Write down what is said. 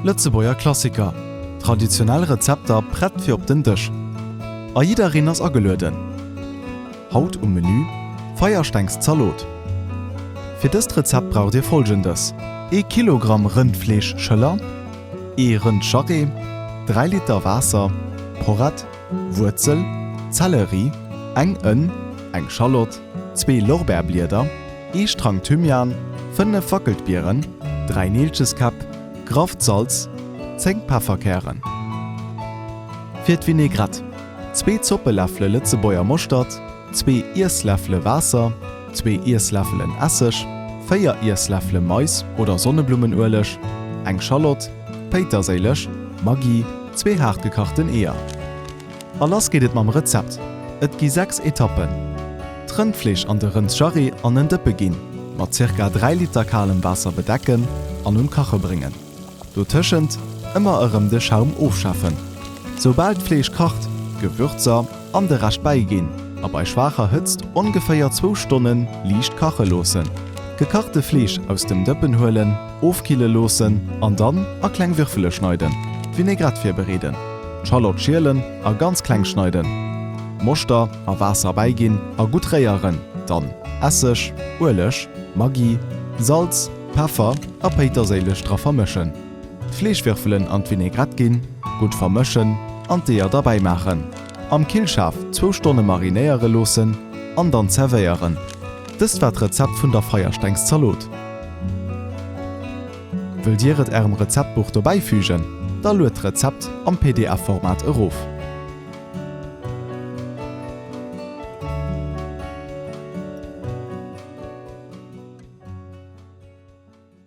Lëtzebuerger Klassiker, traditionell Rezepter prett fir op den Dësch a jiddereen ass agelueden! Haut um Menü, Feierstengszaloot. Fir dëst Rezept braucht dir folgendes, ee Kilogramm Rëndfleeschschëller, ee Rëndscharré, 3 Liter Waasser, Porrett, Wuerzel, Zelleri, eng Ënn, eng Schalott, zwee Lorbeerblieder, ee Strang Thymian, fënnef Wackeltbieren, dräi Neelcheskäpp, grafft Salz, zéng Pefferkären. Fir d'Vinaigrette, zwee Zoppeläffele Lëtzebuerger Moschtert, zwee Iessläffele Waasser, zwee Iessläffelen Esseg, véier Iessläffele Mais oder Sonneblummenueleg, eng Schalott, Péiterséileg, Maggi, Zwee haart gekachten Eeër. A lass geet et mam Rezept. Et gi 6 Etappen. D'Rëndfleesch an de Rëndsjarry an en Dëppe ginn, mat zirka 3 Liter kalem Waasser bedecken an un d'Kache bréngen. Dotëschent ëmmer erëm de Schaum ofschaffen. Soubal d'Fleesch kacht, d'Gewürzer an de Rescht bäiginn a bei schwaacher Hëtzt ongeféier zwou Stonnen liicht kache loossen. D'gekachte Fleesch aus dem Dëppen huelen. Ofkille loossen an dann a kleng Würfele schneiden. D'Vinaigrette virbereeden. D'Schallott schielen a ganz kleng schneiden. Moschter a Waasser bäiginn a gutt réieren, dann Esseg, Ueleg, Maggi, Salz, Peffer a Péiterséileg dra vermëschen. D'Fleeschwürfelen an d'Vinaigrette ginn, gutt vermëschen an d'Eeër derbäimaachen. Am Killschaf zwou Stonne marinéiere loossen an dann zervéieren. Dëst war d'Rezept vun der Feierstengszalot. Wëllt dir et ärem Rezeptbuch dobäi fügen? Da lued d'Rezept am pdf Format erof.